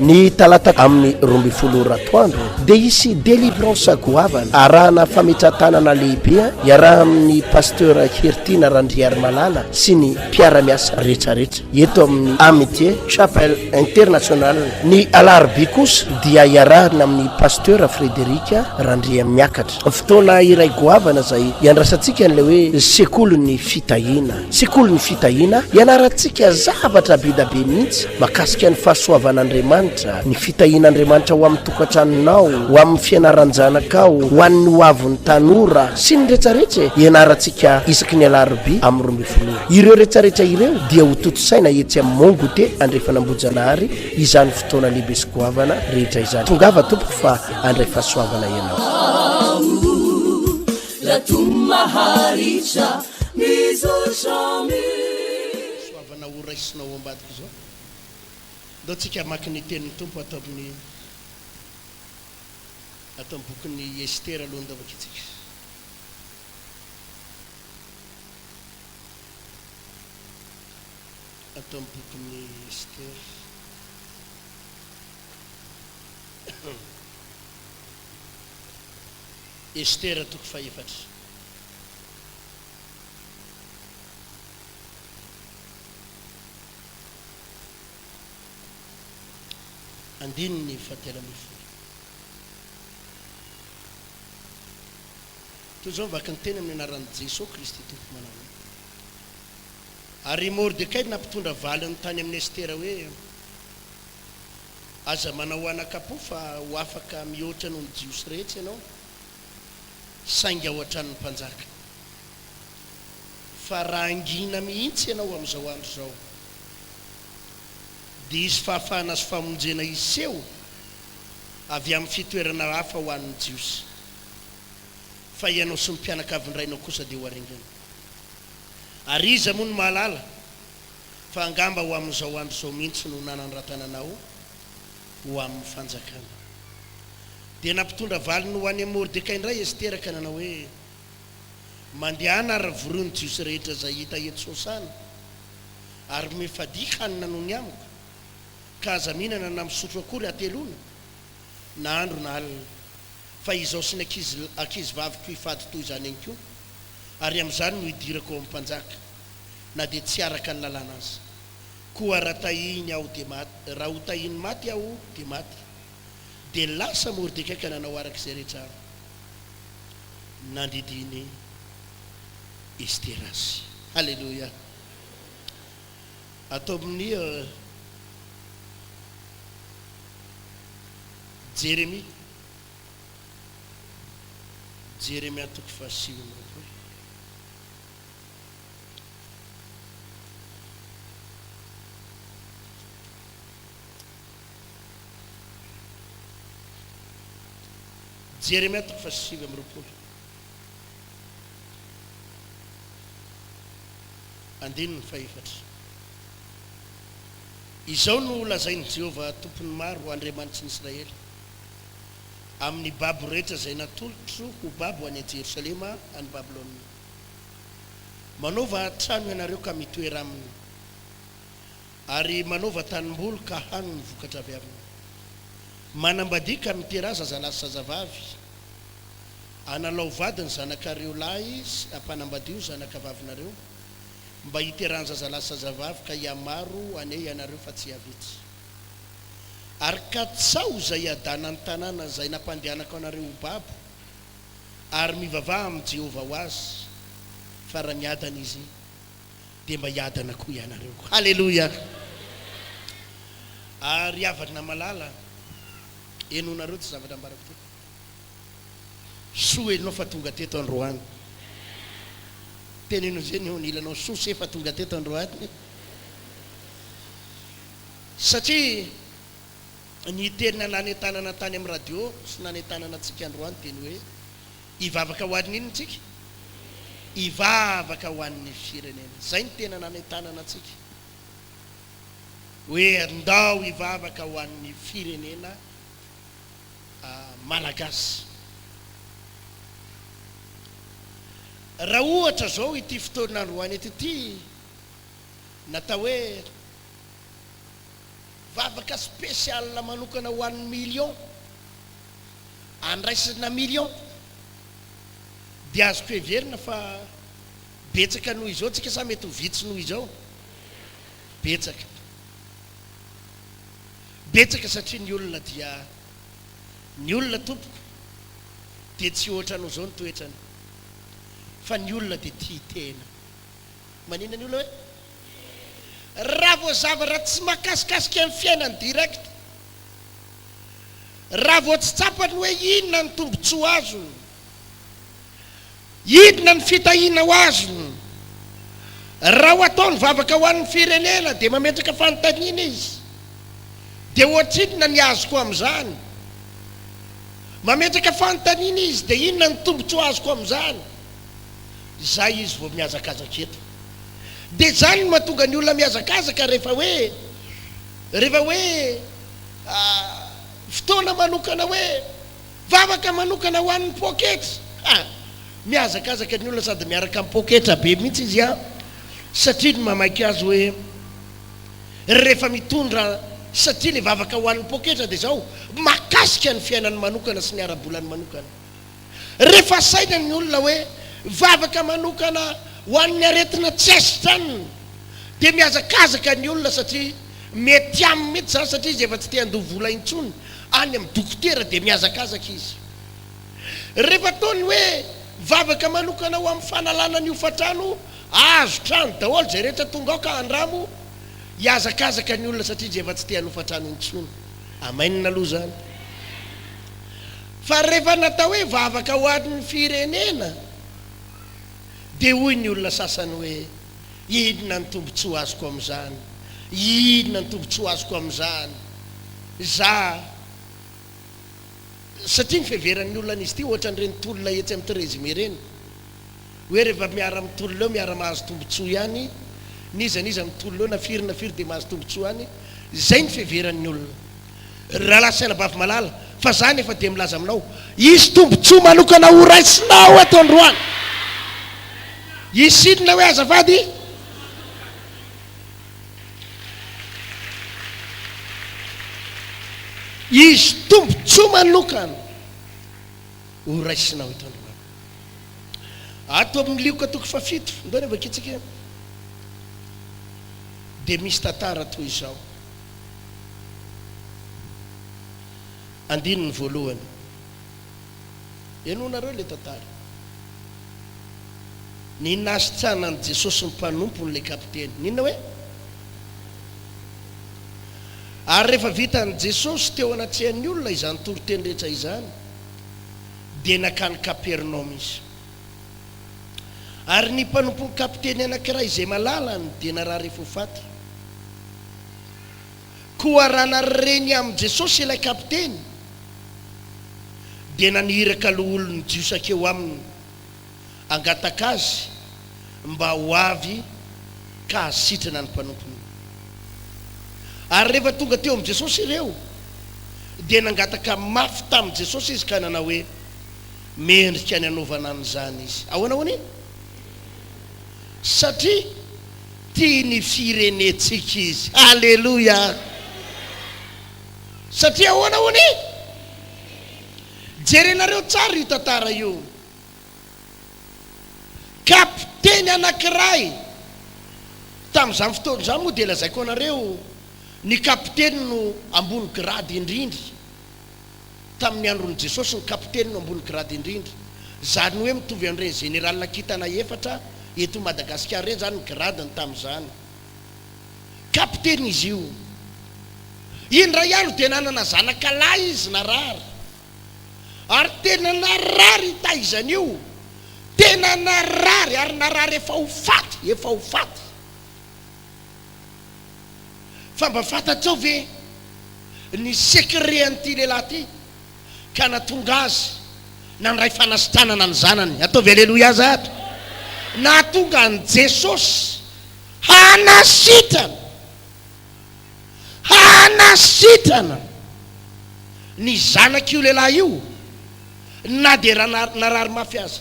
Ny talata amin'ny roa ambin'ny folo ora atoandro dia hisy delivrance goavana arahana fametratanana lehibe iaraha amin'ny pasteur Hertina Randriarimalala sy ny mpiara-miasa rehetrarehetra eto amin'ny Amitié Chapel International. Ny alarobia kosa dia iarahana amin'ny pasteur Frédéric Randriamiakatra. Fotoana iray goavana izay iandrasantsika an'ilay hoe sekolin'ny fitahiana. Sekolin'ny fitahiana, ianarantsika zavatra be dia be mihitsy mahakasika ny fahasoavan'Andriamanitra, ny fitahian'Andriamanitra ho amin'ny tokantranonao, ho amin'ny fianaran-janakao, ho an'ny hoavin'ny tanora, sy ny retsaretra e! Ianarantsika isaky ny alarobia amin'ny roa ambin'ny folo ora. Ireo retsaretra ireo dia ho tontosaina etsy amin'ny Mont Goûter Andrefan'Ambohijanahary izany fotoana lehibe sy goavana rehetra izany. Tongava tompoko fa handray fahasoavana ianao. Aoh, raha toa maharitra. Fisoavana ho raisinao ao ambadika izao. Ndao tsika hamaky ny tenin'ny Tompo ato amin'ny ato amin'ny bokin'i Estera aloha ndao vakitsika. Ato amin'ny bokin'i Estera. Estera toko fahefatra. Andininy fahatelo ambin'ny folo. Toy izao ny vakin'ny teny amin'ny anaran'i Jesoa Kristy Tompo manao hoe, Ary i Mordekay nampitondra valiny tany amin'i Estera hoe, Aza manao anakapo fa ho afaka mihoatra noho ny Jiosy rehetra ianao, saingy ao an-tranon'ny mpanjaka. Fa raha hangina mihitsy ianao amin'izao andro izao, dia hisy fahafahana sy famonjena hiseho avy amin'ny fitoerana hafa ho an'ny Jiosy, fa ianao sy ny mpianakavin-drainao kosa dia ho aringana. Ary iza moa no mahalala fa angamba ho amin'izao andro izao mihitsy no nanandratana anao ho amin'ny fanjakana. Dia nampitondra valiny ho any amin'i Mordekay indray Estera ka nanao hoe, Mandehana ary vorio ny Jiosy rehetra izay hita eto Sosana, ary mifadia hanina noho ny amiko, ka aza mihinana na misotro akory hateloana, na andro na alina, fa izaho sy ny ankizy ankizivaviko hifady toy izany ihany koa, ary amin'izany no hidirako ao amin'ny mpanjaka. na dia tsy araka ny lalàna aza. Koa raha tahiny aho dia maty, raha ho tahiny maty aho dia maty. Dia lasa Mordekay ka nanao araka izay rehetra nandidian'i Estera azy. Haleloia! Ato amin'ny Jeremia, Jeremia toko fahasivy amby roapolo, Jeremia toko fahasivy amby roapolo andininy fahefatra. Izao no holazain'i Jehovah Tompon'ny maro, Andriamanitry ny Israely, Amin'ny babo rehetra izay natolotro ho babo any Jerosalema, any Babylona, Manaova trano ianareo ka mitoera aminy, ary manaova tanimboly ka hano ny vokatra avy aminy. Manambadia ka miteraha zazalahy sy zazavavy, analao vady ny zanakareo lahy sy ampanambadio ny zanakavavinareo, mba hiterahan-jazalahy sy zazavavy ka hihamaro anie ianareo fa tsy hihavitsy. Ary katsaho izay hiadana ny tanàna izay nampandehanako anareo ho babo. ary mivavaha amin'i Jehovah ho azy, fa raha niadana izy, dia mba hiadana koa ianareo. Haleloia! A Ry havana malala, henonareo ity zavatra ambarako ity. Soa ianao fa tonga teto androany. Teneno izay ny eo anilanao, soa se fa tonga teto androany. Satria. Ny teny nanentanana tany amin'ny radio sy nanentanana antsika androany dia ny hoe, Hivavaka ho an'ny inona isika? Hivavaka ho an'ny firenena. Izay no tena nanentanana antsika hoe ndao hivavaka ho an'ny firenena malagasy. Raha ohatra izao ity fotoana androany ity, natao hoe. Vavaka spécial manokana ho an'ny million andraisana million dia azoko heverina fa betsaka noho izao tsika sa mety ho vitsy noho izao? Betsaka. Betsaka satria ny olona dia ny olona tompoko dia tsy ohatranao izao ny toetrany fa ny olona dia tia tena. Manina ny olona hoe Raha vao zavatra tsy mahakasikasika ny fiainany direct, raha vao tsy tsapany hoe inona ny tombotsoa azony, inona ny fitahiana ho azony, raha ho atao ny vavaka ho an'ny firenena dia mametraka fanontaniana izy, dia ohatrinona ny azoko amin'izany? Mametraka fanontaniana izy, dia inona ny tombotsoa azoko amin'izany? Izay izy vao mihazakazaka eto. Dia izany no mahatonga ny olona mihazakazaka rehefa hoe, rehefa hoe fotoana manokana hoe vavaka manokana ho an'ny poketra. Ha! Mihazakazaka ny olona sady miaraka amin'ny poketra be mihitsy izy an! Satria ny mamaky azy hoe rehefa mitondra satria ilay vavaka ho an'ny poketra dia izao, mahakasika ny fiainany manokana sy ny ara-bolany manokana. Rehefa saina ny olona hoe vavaka manokana ho an'ny aretina tsy asidranina dia mihazakazaka ny olona satria mety aminy mihitsy izany satria izy efa tsy te handoa vola intsony any amin'ny dokotera dia mihazakazaka izy rehefa ataony hoe vavaka manokana ho amin'ny fanalana ny hofantrano azo trano daholo izay rehetra tonga ao ka handramo hihazakazaka ny olona satria izy efa tsy te hanofantrano intsony. Amen aloha izany. Fa rehefa natao hoe vavaka ho an'ny firenena dia hoy ny olona sasany hoe inona ny tombontsoa azoko amin'izany? Inona ny tombontsoa azoko amin'izany? Za satria ny fiheveran'ny olona an'izy ity ohatran'ireny tolona etsy amin'ny Trésime ireny hoe rehefa miara-mitolona eo miara-mahazo tombontsoa ihany n'iza n'iza mitolona eo na firy na firy dia mahazo tombontsoa ihany, izay ny fiheveran'ny olona. ry rahalahy sy anabavy malala, fa izaho anefa dia milaza aminao, hisy tombontsoa manokana horaisinao eto androany. Hisy inona hoe azafady? Hisy tombontsoa manokana horaisinao eto androany. Ato amin'ny Lioka toko fahafito, ndao ny avakitsika, dia misy tantara toy izao. Andininy voalohany. Henoinareo ilay tantara. Ny nasitrana an'i Jesosy ny mpanompon'ilay kapiteny. N'inona hoe? Ary rehefa vitan'i Jesosy teo anatrehan'ny olona izany toriteny rehetra izany, dia nankany Kapernaomy izy. Ary ny mpanompon'ny kapiteny anankiray izay malalany dia narary ho faty. Koa raha nareny amin'i Jesosy ilay kapiteny, dia naniraka loholon'ny Jiosy hakeo aminy hangataka azy mba ho avy ka hahasitrana ny mpanompony. Ary rehefa tonga teo amin'i Jesosy ireo, dia nangataka mafy tamin'i Jesosy izy ka nanao hoe, Mendrika ny hanaovana an'izany izy. Ahoana hono e? Satria tia ny firenentsika izy. Aleloia! Satria ahoana hono e? Jerenareo tsara io tantara io. Kapiteny anankiray, tamin'izany fotoana izany moa dia lazaiko anareo, ny kapiteny no ambony grady indrindra. tamin'ny andron'i Jesosy ny kapiteny no ambony grade indrindra. Zany hoe mitovy an'ireny Zenerala kintana efatra eto Madagasikara ireny zany ny gradiny tamin'izany. Kapiteny izy io. Indray andro dia nanana zanaka lahy izy narary. Ary tena narary hitaizany io. Tena narary ary narary efa ho faty, efa ho faty. Fa mba fantatrao ve ny secret an'ity lehilahy ity ka nahatonga azy nandray fanasitranana ny zanany? Ataovy aleloia aza ato. Nahatonga an'i Jesosy hanasitrana, hanasitrana ny zanak'io lehilahy io na dia narary mafy aza.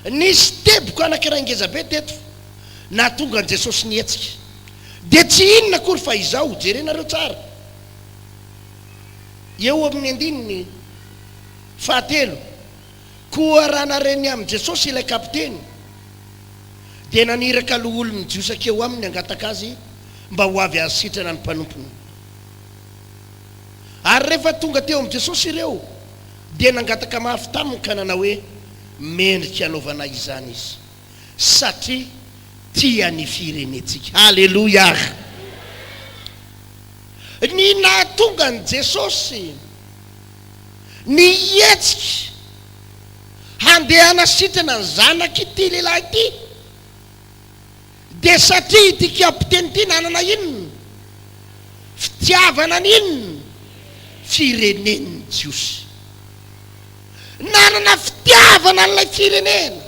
Nisy teboka anankiray ngeza be teto nahatonga an'i Jesosy nihetsika. Dia tsy inona akory fa izao, jerenareo tsara eo amin'ny andininy fahatelo, Koa raha naren'ny amin'i Jesosy ilay kapiteny, dia naniraka loholon'ny Jiosy hakeo aminy hangataka azy mba ho avy hahasitrana ny mpanompony. Ary rehefa tonga teo amin'i Jesosy ireo, Dia nangataka mafy taminy ka nanao hoe, Mendrika hanaovana izany izy, satria tia ny firenentsika. Aleloia! Ny nahatonga an'i Jesosy nihetsika handeha hanasitrana ny zanak'ity lehilahy ity, Dia satria ity kapiteny ity nanana inona? Fitiavana ny inona? Fireneny ny Jiosy. Nanana fitiavana an'ilay firenena.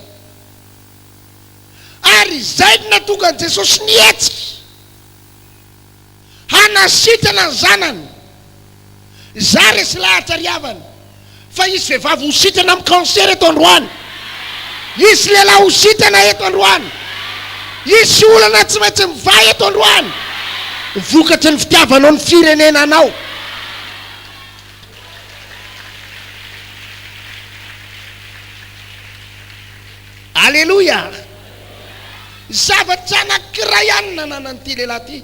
Ary izay no nahatonga an'i Jesosy nihetsika. Hanasitrana ny zanany. Izaho resy lahatra ry havana fa hisy vehivavy ho sitrana amin'ny cancer eto androany. Hisy lehilahy ho sitrana eto androany. Hisy olana tsy maintsy mivaha eto androany vokatry ny fitiavanao ny firenena anao. Aleloia! Zavatra anankiray ihany nananan'ity lehilahy ity,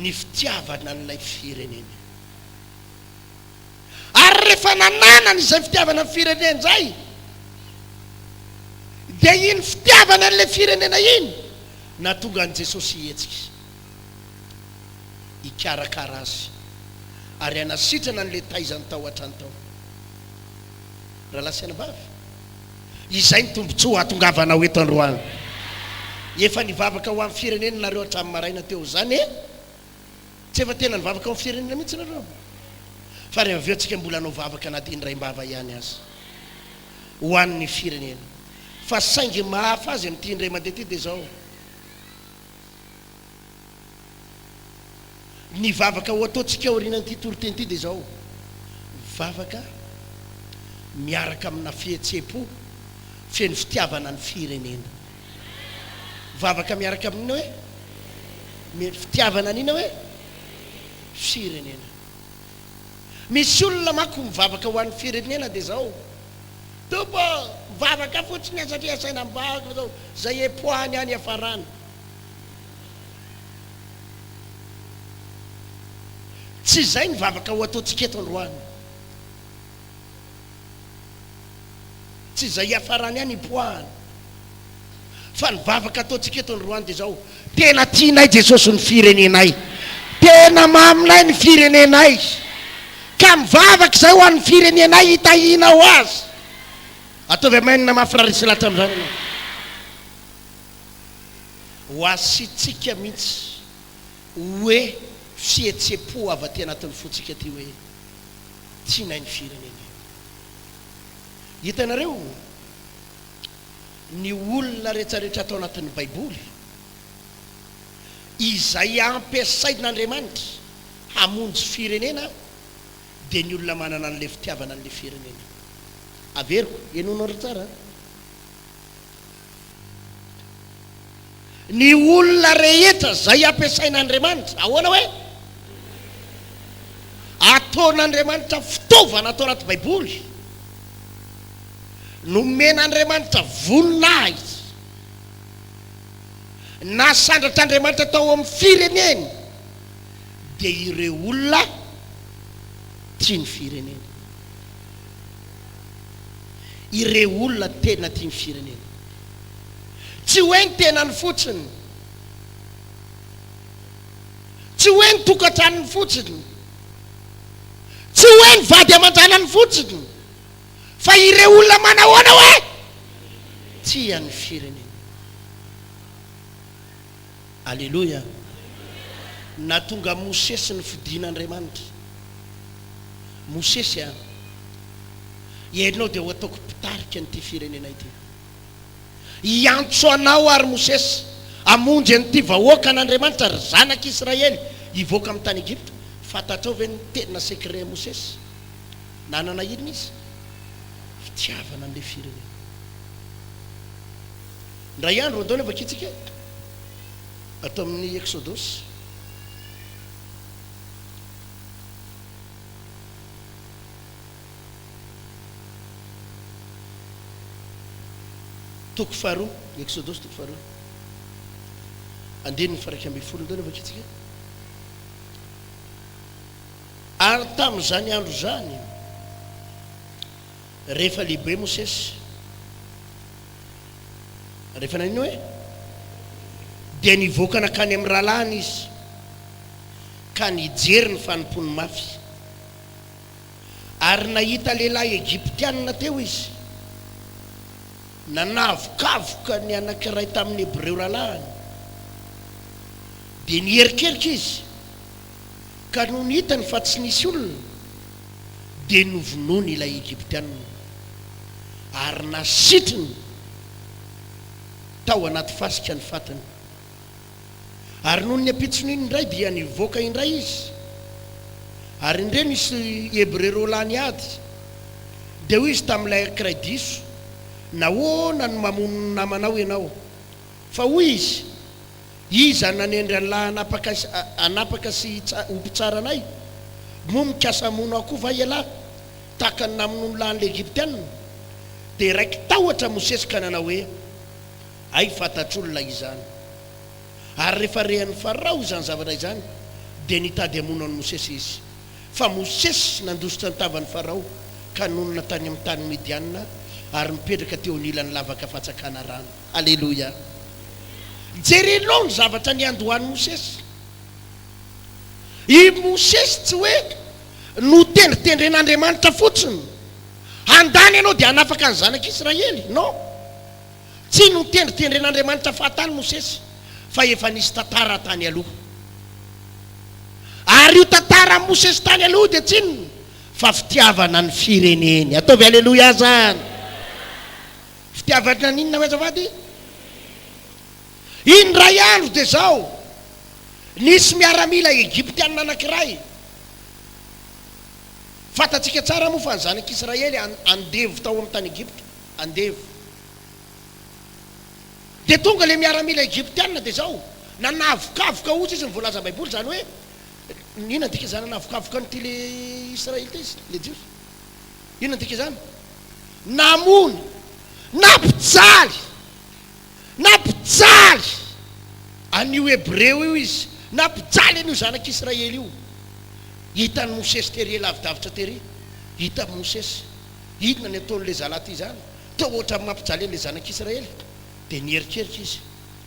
ny fitiavana an'ilay fireneny. Ary rehefa nananany izay fitiavana ny fireneny izay, dia iny fitiavany an'ilay firenena iny nahatonga an'i Jesosy hihetsika, hikarakara azy, ary hanasitrana an'ilay taizany tao an-trano tao. Rahalahy sy anabavy, Izay ny tombontsoa hahatongavanao eto androany. Efa nivavaka ho amin'ny firenena nareo hatramin'ny maraina teo izany e! Tsy efa tena nivavaka ho amin'ny firenena mihitsy nareo? Fa re avy eo tsika mbola hanao vavaka na dia indraim-bava ihany aza ho an'ny firenena. Fa saingy mahafaha azy amin'ity indray mandeha ity dia izao. Ny vavaka ho ataontsika aorianan'ity toriteny ity dia izao, vavaka miaraka amina fihetseham-po feno fitiavana ny firenena. Vavaka miaraka amin'inona hoe? Mino fitiavana an'inona hoe? Firenena. Misy olona manko mivavaka ho an'ny firenena dia izao, Tompo ô, mivavaka fotsiny aho satria asaina mivavaka fa izao, izay epoahany aho niafaràna. Tsy izay ny vavaka ho ataontsika eto androany. Tsy izay hiafarany any hipoahany. Fa ny vavaka ataontsika eto androany dia izao, tena tianay Jesosy ny firenenay. Tena maminay ny firenenay. Ka mivavaka izahay ho an'ny firenenay hitahianao azy. Ataovy Amen mafy raha resy lahatra amin'izany ianao. Ho azy sy tsika mintsy oe fihetsepo avy aty anatin'ny fontsika aty oe tsy nainy firenena io. Hitanareo ny olona retraretra ato anatin'ny baiboly izay ampiasain'Andriamanitra hamonjy firenena dia ny olona manana an'le fitiavana an'le firenena. Averiko, henoinareo tsara a. Ny olona rehetra izay ampiasain'Andriamanitra, ahoana hoe? Ataon'Andriamanitra fitaovana ato anaty Baiboly. Nomen'Andriamanitra voninahitra. Nasandratr'Andriamanitra tao amin'ny fireneny dia ireo olona tia ny fireneny. ireo olona tena tia ny firenena. Tsy hoe ny tenany fotsiny, tsy hoe ny tokantranony fotsiny, tsy hoe ny vady aman-janany fotsiny, fa ireo olona manahoana hoe tia ny firenena. Aleloia! Nahatonga Mosesy ny fidin' Andriamanitra. Mosesy a! Ianao dia ho ataoko mpitarika an'ity firenena ity. Hiantso anao ary Mosesy hamonjy an'ity vahoakan' Andriamanitra, ry zanak' Israely, hivoaka amin'ny tany Egypta. Fantatrao ve ny tena secret Mosesy? Nanana inona izy? Fitiavana an'ilay firenena. Indray andro andao ny hamakiantsika ato amin'ny Eksodosy. Toko faharoa, ny Eksodosy toko faharoa. Andininy faraika ambin'ny folo indao ny hamakiantsika. Ary tamin'izany andro izany, rehefa lehibe Mosesy, Rehefa nanino hoe? Dia nivoaka nankany amin'ny rahalahiny izy, ka nijery ny fanompoany mafy. Ary nahita lehilahy Egyptiana teo izy. Nanavokavoka ny anankiray tamin'ny Hebreo rahalahiny. Dia niherikerika izy ka nony hitany fa tsy nisy olona, dia novonoiny ilay Egyptianina, ary nasitriny tao anaty fasika ny fatiny. Ary nony ampitson'iny indray, dia nivoaka indray izy, ary indreo nisy Hebreo roa lahy niady, dia hoy izy tamin'ilay ankiray diso, Nahoana no mamono ny namanao ianao? Fa hoy izy, Iza no nanendry an'lah hanapaka sy hanapaka sy hitsa ho mpitsara anay? Moa mikasa hamono ahy koa va ialahy, tahaka ny namonoan'lah an'ilay Egyptianina? Dia raiki-tahotra Mosesy ka nanao hoe, Hay fantatr'olona izany. Ary rehefa rehanin'i Farao izany zavatra izany, dia nitady hamono an'i Mosesy izy. Fa Mosesy nandositra ny tavan'i Farao ka nonina tany amin'ny tany Midianina ary nipetraka teo anilany lavaka fatsakana rano. Aleloia! Jerenao ny zavatra niandohan'i Mosesy. I Mosesy tsy hoe notendritendren'Andriamanitra fotsiny, Handany ianao dia hanafaka ny zanak'Israely. Non! Tsy notendritendren'Andriamanitra fahatany Mosesy, fa efa nisy tantara tany aloha. Ary io tantaran'i Mosesy tany aloha io dia tsy inona fa fitiavana ny fireneny. Ataovy Aleloia azany! Fitiavatra ny inona hoy azafady? Indray andro dia izao, nisy miaramila Egyptiana anankiray, fantatsika tsara moa fa ny zanak'Israely andevo tao amin'ny tany Egypta, andevo. Dia tonga ilay miaramila Egyptiana dia izao, nanavokavoka osa izy ny voalazan'ny Baiboly, izany hoe, inona ny dikan'izany nanavokavoka an'ity ilay Israelita izy, ilay Jiosy? Inona dika izany? Namono, nampijaly, nampijaly an'io Hebreo io izy, nampijaly an'io zanak'Israely io. Hitan'i Mosesy tery, lavidavitra tery, hitan'i Mosesy inona ny ataon'ilay zalahy ity izany, toa ohatran'ny mampijaly an'ilay zanak'Israely. Dia niherikerika izy,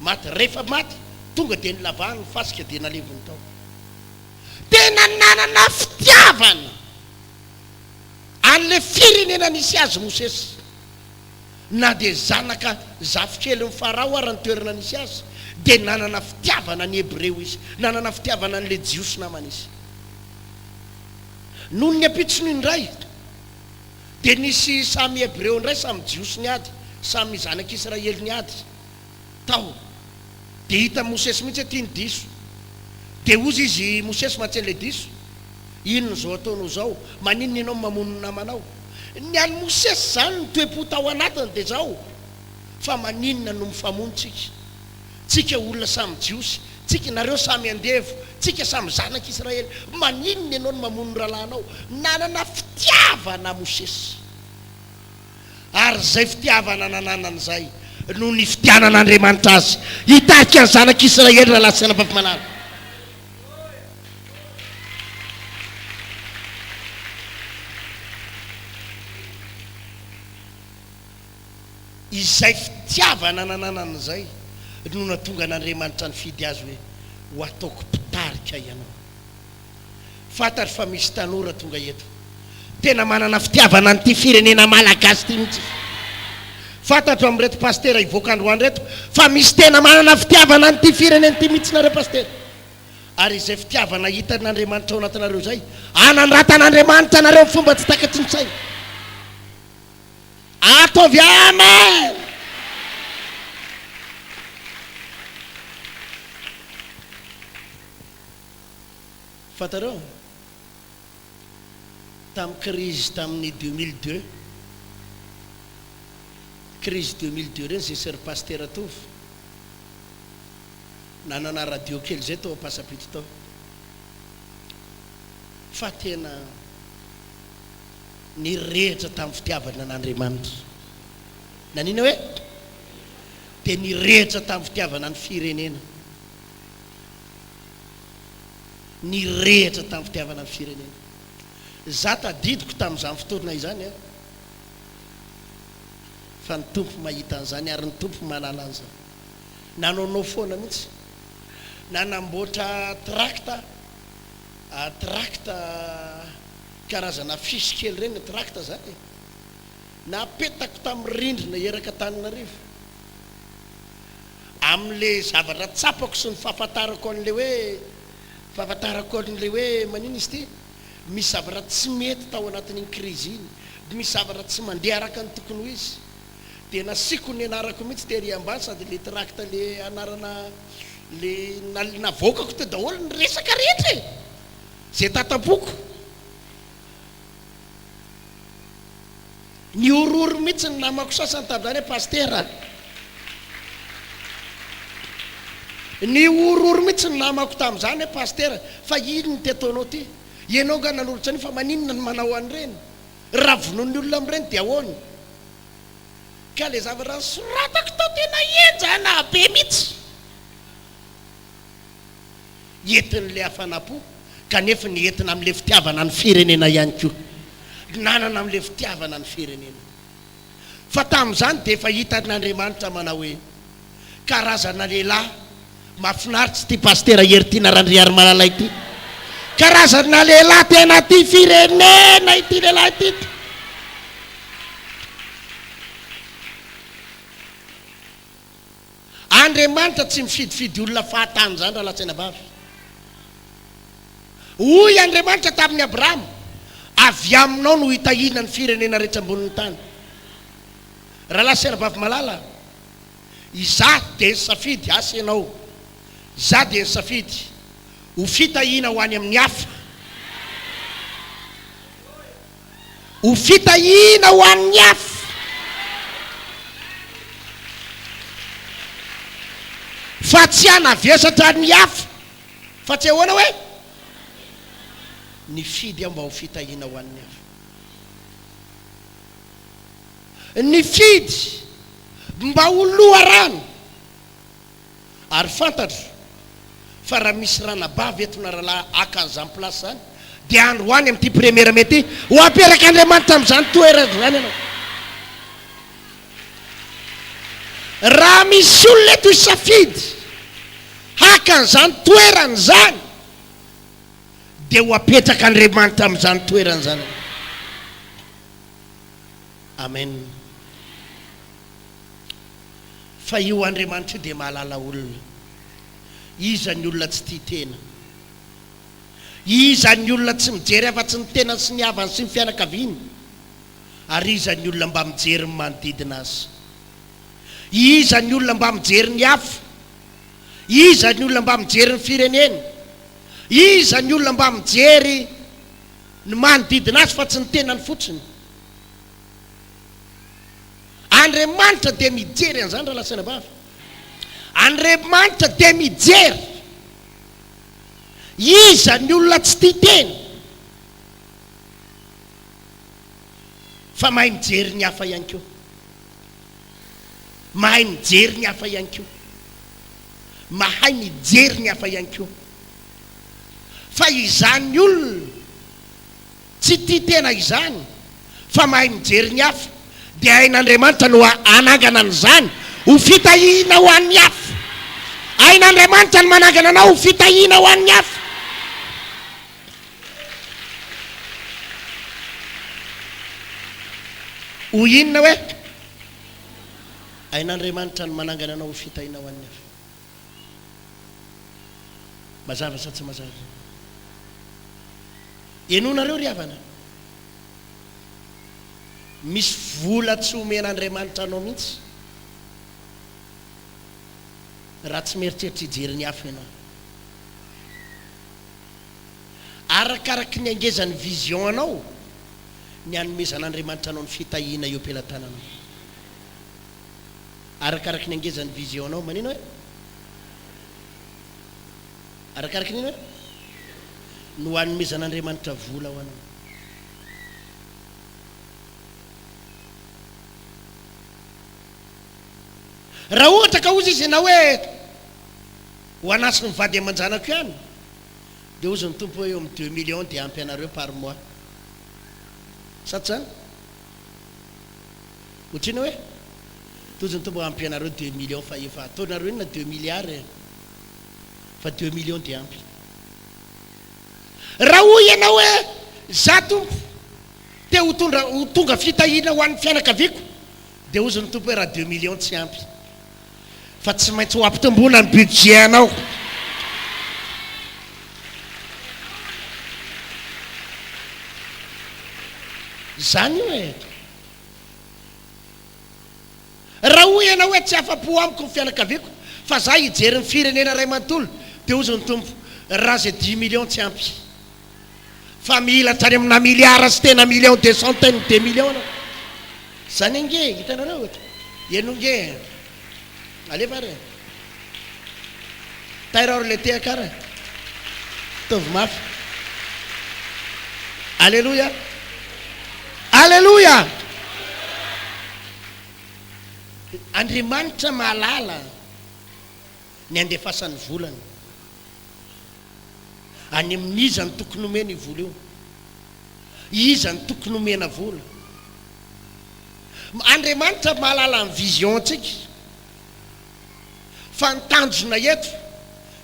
Maty, rehefa maty tonga dia nilavahany ny fasika dia naleviny tao. Tena nanana fitiavana an'ilay firenena nisy azy Mosesy. Na dia zanaka zafikelin'i Farao ara ny toerana nisy azy dia nanana fitiavana ny Hebreo izy, nanana fitiavana an'ilay Jiosy namany izy. Noho ny ampitsony indray dia nisy samy Hebreo indray samy Jiosy niady, samy zanak'Israely niady. tao dia hitan'i Mosesy mihitsy hoe tiany diso. Dia hozy izy Mosesy matsy an'ilay diso, inona izao ataonao izao? Maninona ianao mamono ny namanao? Ny an'i Mosesy izany ny toe-po tao anatiny dia izao, fa maninona no mifamono tsika? Tsika olona samy jiosy, tsika nareo samy andevo, tsika samy zanak'Israely, maninona ianao no mamono ny rahalahinao? Nanana fitiavana Mosesy. Ary izay fitiavana nananany izay no nifidianan'Andriamanitra azy hitarika ny zanak'Israely raha lasa anabavy malala. Izay fitiavana nananany izay no nahatonga an'Andriamanitra nifidy azy hoe, Ho ataoko mpitarika ianao. Fantatro fa misy tanora tonga eto tena manana fitiavana an'ity firenena malagasy ity mihitsy. Fantatro amin'ireto pasitera hivoaka androany ireto fa misy tena manana fitiavana an'ity firenena ity mihitsy nareo pasitera. Ary izay fitiavana hitan'Andriamanitra ao anatinareo izay, hanandratan'Andriamanitra anareo amin'ny fomba tsy takatry ny saina. Ataovy Amen! Fantareo? Tamin'ny krizy tamin'ny deux mille deux, krizy deux mille deux reny zay Soeur Pasitera Tovo nanana radio kely zay tao Ampasapito tao, fa tena nirehitra tamin'ny fitiavana an'Andriamanitra. Nanina hoe? Dia nirehitra tamin'ny fitiavana ny firenena. nirehitra tamin'ny fitiavana ny firenena. Izaho tadidiko tamin'izany fotoana izany fa ny Tompo mahita an'izany ary ny Tompo manala an'izany. Nanao no foana mihitsy. Nanamboatra trakta aho, trakta karazana affiche kely ireny, trakta izany e! Napetako tamin'ny rindrina erak'Antananarivo. amin'le zavatra tsapako sy ny fahafantarako an'le hoe, fahafantarako an'le hoe maninona izy ity? misy zavatra tsy mety tao anatin'iny crise iny, misy zavatra tsy mandeha araka ny tokony ho izy, dia nasiako ny anarako mihitsy tery ambany sady le tract le anarana le navoakako teo daholo ny resaka rehetra e! zay tatam-poko. Nihorohoro mihitsy ny namako sasany tamin'izany hoe Pasitera a! Nihorohoro mihitsy ny namako tamin'izany hoe Pasitera a! Fa inona ity ataonao ity? Ianao angaha nanolotra an'io fa maninona no manao an'ireny? Raha vonoin'ny olona amin'ireny dia ahoana? Ka ilay zavatra nosoratako tao tena henjana be mihitsy. entin'ilay hafanam-po kanefa ny entina amin'ilay fitiavana ny firenena ihany koa. Nanana amin'ilay fitiavana ny firenena. Fa tamin'izany dia efa hitan'Andriamanitra manao hoe, Karazana lehilahy mahafinaritra ity Pasitera Heritiana Randriarimalala ity. Karazana lehilahy tena tia firenena ity lehilahy ity ity. Andriamanitra tsy mifidifidy olona fahatany izany raha lasaina vavy. Hoy Andriamanitra tamin'i Abrahama, Avy aminao no hitahiana ny firenena rehetra ambonin'ny tany. Raha lasaina vavy malala, Izaho dia nisafidy asa ianao. Izaho dia nisafidy ho fitahiana ho any amin'ny hafa. ho fitahiana ho an'ny hafa. Fa tsy hanavesatra ny hafa. Fa tsy ahoana hoe? Nifidy aho mba ho fitahiana ho an'ny hafa. Nifidy mba ho loharano. Ary fantatro fa raha misy ranabavy eto na rahalahy haka an'izany place izany dia andro ho any amin'ity première mai ity ho aperak'Andriamanitra amin'izany toerana izany ianao. Raha misy olona eto hisafidy haka an'izany toerana izany dia ho apetrak'Andriamanitra amin'izany toerana izany ianao. Amen. Fa io Andriamanitra io dia mahalala olona. Iza ny olona tsy tia tena? Iza ny olona tsy mijery afa-tsy ny tenany sy ny havany sy ny fianakaviany? Ary iza ny olona mba mijery ny manodidina azy? Iza ny olona mba mijery ny hafa? Iza ny olona mba mijery ny fireneny? Iza ny olona mba mijery ny manodidina azy fa tsy ny tenany fotsiny? Andriamanitra dia mijery an'izany rahalahy sy anabavy. Andriamanitra dia mijery iza ny olona tsy tia teny fa mahay mijery ny hafa ihany koa. Mahay mijery ny hafa ihany koa. Mahay mijery ny hafa ihany koa. Fa izany olona Tsy tia tena izany fa mahay mijery ny hafa, dia hain'Andriamanitra no hanangana an'izany ho fitahiana ho an'ny hafa. Hain'Andriamanitra ny manangana anao ho fitahiana ho an'ny hafa. Hoy inona hoe hain'Andriamanitra ny manangana anao ho fitahiana ho an'ny hafa? Mazava sa tsy mazava izany? Henonareo ry havana, misy vola tsy omen'Andriamanitra anao mihitsy raha tsy mieritreritra hijery ny afo ianao. Arakaraky ny hangezan'ny vision anao ny hanomezan'Andriamanitra anao ny fitahiana eo am-pelatananao. Arakaraky ny hangezan'ny vision-nao, manino e? Arakaraky ny inona e? No hanomezan'Andriamanitra vola ho anao. Raha ohatra ka hozy izy ianao hoe, Ho an'Acy ny vady aman-janako ihany, dia hozy ny Tompo hoe eo amin'ny deux millions dia ampy anareo par mois. Sa tsy izany? Otrino hoe tojo ny tombo ampy anareo deux millions fa efa ataonareo inona deux milliards e! Fa deux millions dia ampy. Raha hoy ianao hoe za tompo te ho tondra ho tonga fitahiana ho an'ny fianakaviako dia hozy ny tompo hoe raha deux millions tsy ampy fa tsy maintsy ho ampitomboina ny budget anao. Zany io e! Raha hoy ianao hoe tsy afa-po amiko ny fianakaviako fa za hijery ny firenena iray manontolo dia hozy ny Tompo, raha izay dimy millions tsy ampy fa mila hatrany amina milliards sy tena millions de centaines de millions ianao. Izany ange, hitanareo? Ianao ange. Alefa ary e! Tairo ary le tehaka ary e! Ataovy mafy! Aleloia! Aleloia! Andriamanitra mahalala ny handefasan'ny volany. Any amin'iza no tokony homeny io vola io? Iza no tokony omena vola? Andriamanitra mahalala ny vision-tsika fa ny tanjona eto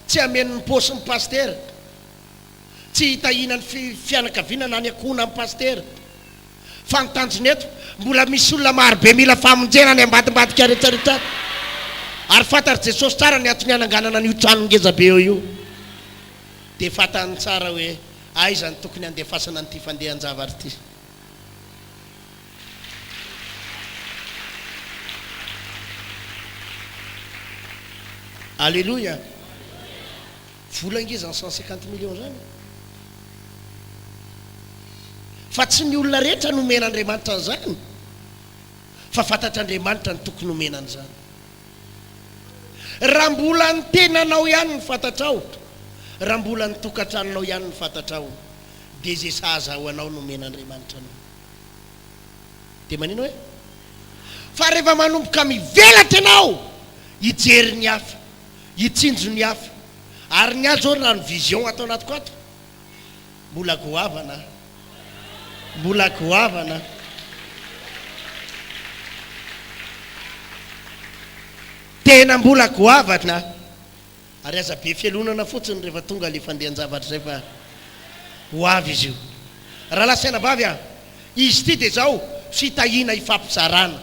tsy hameno ny paosin'ny pasitera, tsy hitahiana ny fianakaviana na ny ankohonan'ny pasitera fa ny tanjona eto mbola misy olona maro be mila famonjena any ambadimbadika aretsaretra ary fantatr'i Jesosy tsara ny antony hananganana an'io tranon-gezabe eo io dia fantany tsara hoe Aiza no tokony handefasana an'ity fandehan-javatra ity? Aleloia! Vola ange izany cent cinquante millions izany. Fa tsy ny olona rehetra no omen'Andriamanitra an'izany, fa fantatr'Andriamanitra ny tokony homena an'izany. Raha mbola ny tenanao ihany no fantatrao, raha mbola ny tokantranonao ihany no fantatrao, dia izay sahaza ho anao no omen'Andriamanitra anao. Dia manino e? Fa rehefa manomboka mivelatra ianao hijery ny hafa, hitsinjo ny hafa, ary ny ahy izao raha ny vision ato anatiko ato, Mbola goavana a! Mbola goavana a! Tena mbola goavana a! Ary aza be fialonana fotsiny rehefa tonga ilay fandehan-javatra izay fa ho avy izy io. Rahalahy sy anabavy a! Izy ity dia izao, fitahiana hifampizarana.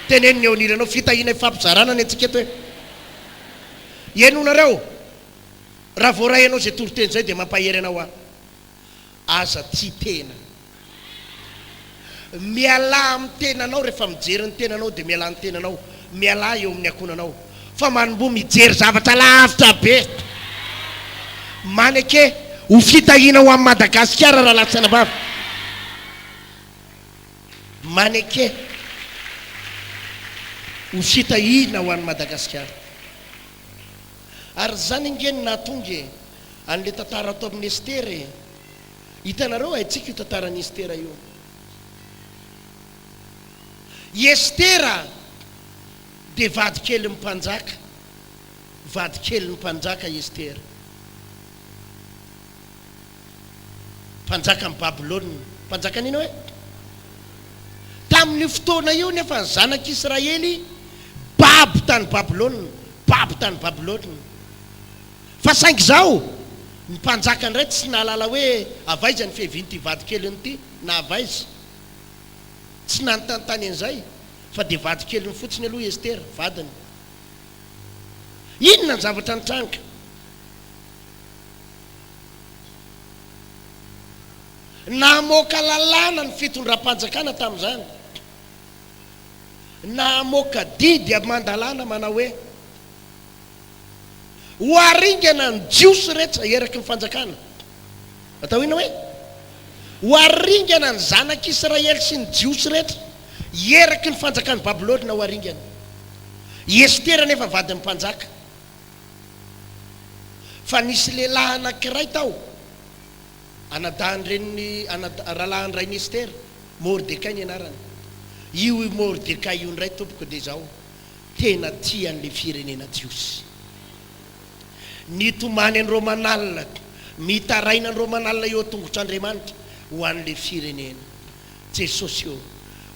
Teneno ny eo anilanao, fitahiana hifampizarana ny antsika eto e! Henonareo? Raha voaray anao izay toriteny izay dia mampahery anao aho. Aza tia tena. Mialà amin'ny tenanao rehefa mijery ny tenanao dia mialà ny tenanao. Mialà eo amin'ny ankohonanao. Fa manomboha mijery zavatra lavitra be. Maneke ho fitahiana ho an'i Madagasikara raha latsana vava. Maneke ho fitahiana ho an'i Madagasikara. Ary izany ange no nahatonga e an'ilay tantara ato amin'ny Estera e. Hitanareo haintsika io tantaran'i Estera io. I Estera dia vadikelin'ny mpanjaka. Vadikelin'ny mpanjaka i Estera. mpanjakan'i Babylona. Mpanjakan'i Ninoe. Tamin'io fotoana io nefa ny zanak'Israely babo tany Babylona, babo tany Babylona. Fa saingy izao, ny mpanjaka indray tsy nahalala hoe avy aiza ny fiavian'ity vadikeliny ity, na avy aiza. Tsy nanontantany an'izay, fa dia vadikeliny fotsiny aloha i Estera, vadiny. Inona ny zavatra nitranga? Namoaka lalàna ny fitondram-panjakana tamin'izany. Namoaka didy aman-dalàna manao hoe, Ho haringana ny Jiosy rehetra eraky ny fanjakana. Atao inona hoe? Ho haringana ny zanak'Israely sy ny Jiosy rehetra eraky ny fanjakan'i Babylona ho haringana. I Estera anefa vadin'ny mpanjaka. fa nisy lehilahy anankiray tao, anadahin'ny renin'i, anadahy, rahalahin-drain'i Estera, Mordekay ny anarany. Io Mordekay io indray, tompoko, dia izao, tena tia an'ilay firenena jiosy. Nitomany an'i Romanala, mitaraina an'i Romanala eo an-tongotr'Andriamanitra ho an'ilay firenena. Jesosy ô!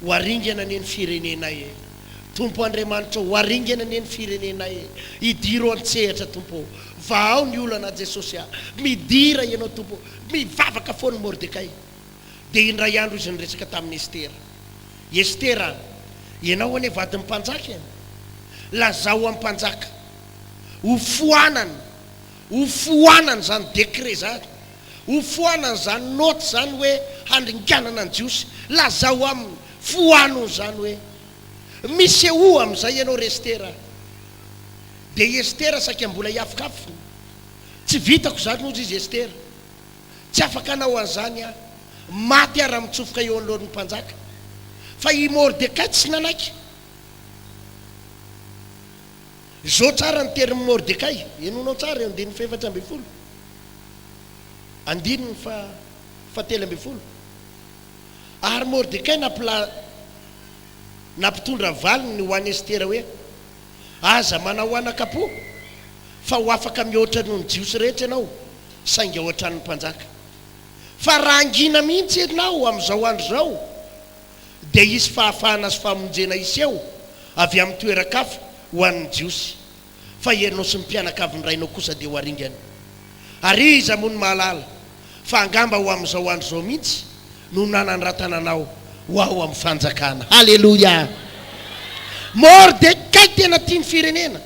Ho aringana anie ny firenenay e! Tompo Andriamanitra ô! Ho aringana anie ny firenenay e! Hidiro an-tsehatra Tompo ô! Vahao ny olana aho Jesosy a! Midira Ianao Tompo ô! Mivavaka foana i Mordekay. Dia indray andro izy niresaka tamin'i Estera. Estera a! Ianao anie vadin'ny mpanjaka e! Lazao amin'ny mpanjaka. Hofoanany. Ho foanana izany décret izany, ho foanana izany note izany hoe handringanana ny Jiosy. Lazao aminy, foano izany hoe misehoa amin'izay ianao ry Estera. Dia i Estera saika mbola hiafokafona. Tsy vitako izany hozy izy, Estera. Tsy afaka hanao an'izany aho. Maty aho raha mitsofoka eo anoloan'ny mpanjaka. Fa i Mordekay tsy nanaiky. Izao tsara ny terin'i Mordekay, henonao tsara eo andininy fahefatra ambin'ny folo, andininy faha fahatelo ambin'ny folo, Ary Mordekay nampila nampitondra valiny ho an'i Estera hoe, Aza manahoanaka apo, fa ho afaka mihoatra noho ny Jiosy rehetra ianao, saingy ao an-tranon'ny mpanjaka. Fa rangina mihitsy ianao amin'izao andro izao. dia hisy fahafahana sy famonjena hiseho avy amin'ny toeran-kafa ho an'ny Jiosy, fa ianao sy ny mpianakavin'ny rainao kosa dia ho aringany. Ary iza moa no mahalala fa angamba ho amin'izao andro izao mihitsy no nanandratana anao ho ao amin'ny fanjakana. Haleloia! Môrdekay tena tia ny firenena.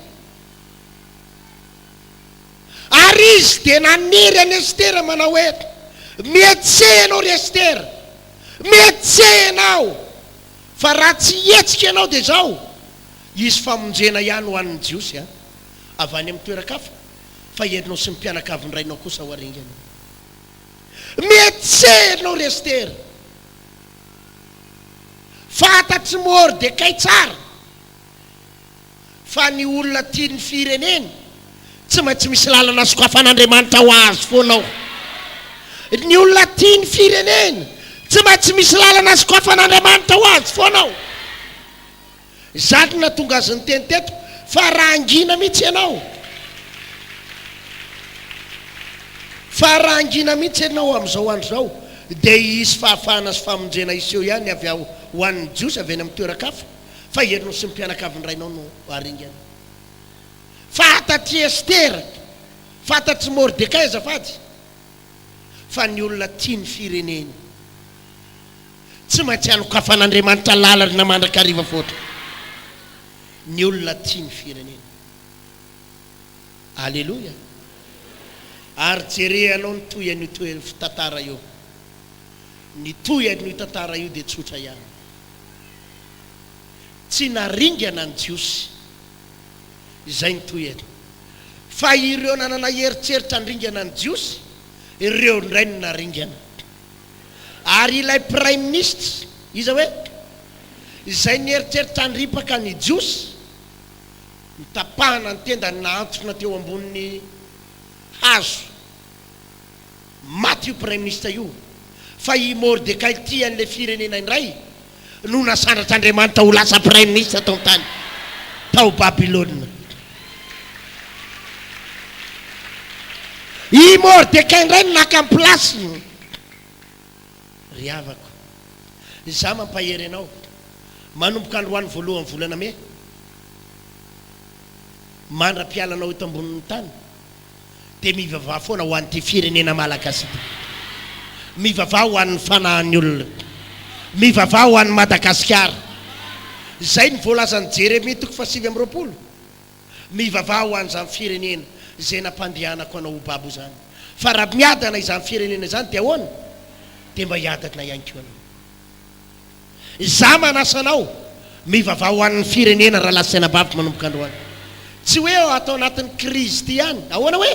Ary izy dia nanery an'i Estera manao hoe, Mihetseha ianao ry Estera! Mihetseha ianao! Fa raha tsy hihetsika ianao dia izao, hisy famonjena ihany ho an'ny Jiosy avy any amin'ny toeran-kafa, fa ianao sy ny mpianakavin-drainao kosa ho aringana. Mihetseha ianao ry Estera! Fantatr'i Mordekay tsara. Fa ny olona tia ny fireneny tsy maintsy misy lalana sokafan'Andriamanitra ho azy foana ao. Ny olona tia ny fireneny tsy maintsy misy lalana sokafan'Andriamanitra ho azy foana ao. Izany no nahatonga azy niteny teto fa raha hangina mihitsy ianao, fa raha hangina mihitsy ianao amin'izao andro izao dia hisy fahafahana sy famonjena hiseho ihany avy ao ho an'ny Jiosy avy any amin'ny toeran-kafa. fa ianao sy ny mpianakavin-drainao no haringana. Fantatr'i Estera, fantatr'i Mordekay azafady, fa ny olona tia ny fireneny tsy maintsy anokafan'Andriamanitra lalana mandrakariva foana. Ny olona tia ny fireneny. Aleloia! Ary jereanao ny tohin'io tohi-tantara io. Ny tohin'io tantara io dia tsotra ihany. Tsy naringana ny Jiosy. Izay no tohiny. Fa ireo nanana eritreritra handringana ny Jiosy, ireo indray no naringana. Ary ilay Praiminisitra, iza hoe? izay nieritreritra handripaka ny Jiosy, notapahana ny tendany nahantona teo ambonin'ny hazo. Maty io praiminisitra io fa i Mordekay tia an'ilay firenena indray no nasandratr'Andriamanitra ho lasa praiminisitra tao an-tany tao Babylona. I Mordekay indray no naka ny place-ny. Ry havako, izaho mampahery anao, manomboka androany voalohan'ny volana Mey mandra-pialanao eto ambonin'ny tany, Dia mivavaha foana ho an'ity firenena Malagasy ity. Mivavaha ho an'ny fanahan'ny olona. Mivavaha ho an'i Madagasikara. Izay no voalazan'i Jeremia toko fahasivy amby roapolo. Mivavaha ho an'izany firenena izay nampandehanako anao ho babo izany. Fa raha miadana izany firenena izany dia ahoana? Dia mba hiadana ihany koa ianao. Izaho manasa anao, mivavaha ho an'ny firenena rahalahy sy anabaviko manomboka androany. Tsy hoe ato anatin'ny krizy ity ihany. Ahoana hoe?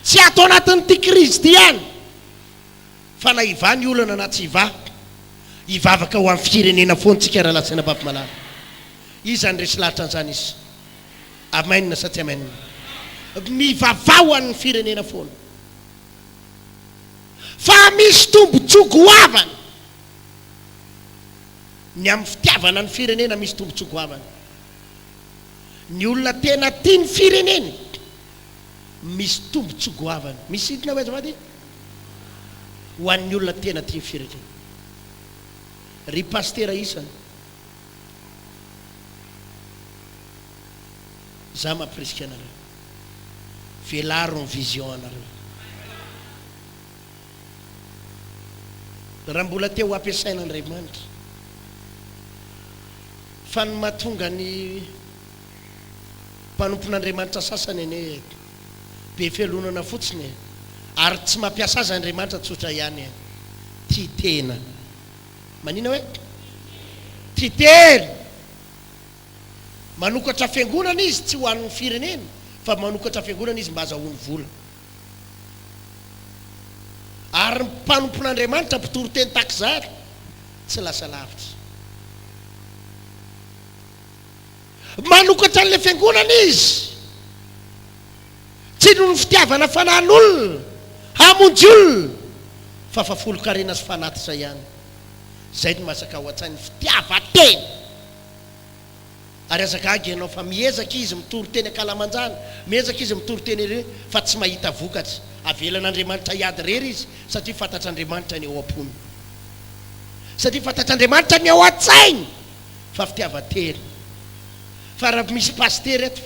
Tsy ato anatin'ity krizy ity ihany, fa na hivaha ny olana na tsy hivaha, hivavaka ho an'ny firenena foana isika rahalahy sy anabaviko malala. Iza no resy lahatra an'izany is? Amen sa tsy amen? Mivavaha ho an'ny firenena foana. fa misy tombontsoa goavana ny amin'ny fitiavana ny firenena, misy tombontsoa goavana ny olona tena tia ny fireneny, misy tombontsoa goavana. Misy inona hoy azafady? Ho an'ny olona tena tia ny fireneny. Ry pasitera isany, za mampirisika anareo. Velaro ny vision anareo. Raha mbola te ho ampiasain'Andriamanitra. Fa ny mahatonga ny mpanompon'Andriamanitra sasany anie be fialonana fotsiny e. Ary tsy mampiasa azy Andriamanitra tsotra ihany e. Tia tena. Manina hoe? Tia tena. Manokatra fiangonana izy tsy ho an'ny firenena fa manokatra fiangonana izy mba azahoany vola. Ary ny mpanompon'Andriamanitra mpitory teny takizary tsy lasa lavitra. Manokatra an'ilay fiangonana izy tsy noho ny fitiavana fanahin'olona hamonjy olona fa fa folon-karena sy fanatitra ihany. Izay no masaka ao an-tsainy, fitiavan-tena. Ary aza gaga ianao fa miezaka izy mitory teny ankalamanjana, miezaka izy mitory teny ery fa tsy mahita vokatra. Avelan'Andriamanitra hiady irery izy satria fantatr'Andriamanitra ny ao am-pony. Satria fantatr'Andriamanitra ny ao an-tsainy fa fitiavan-tena. Fa raha misy pasitera eto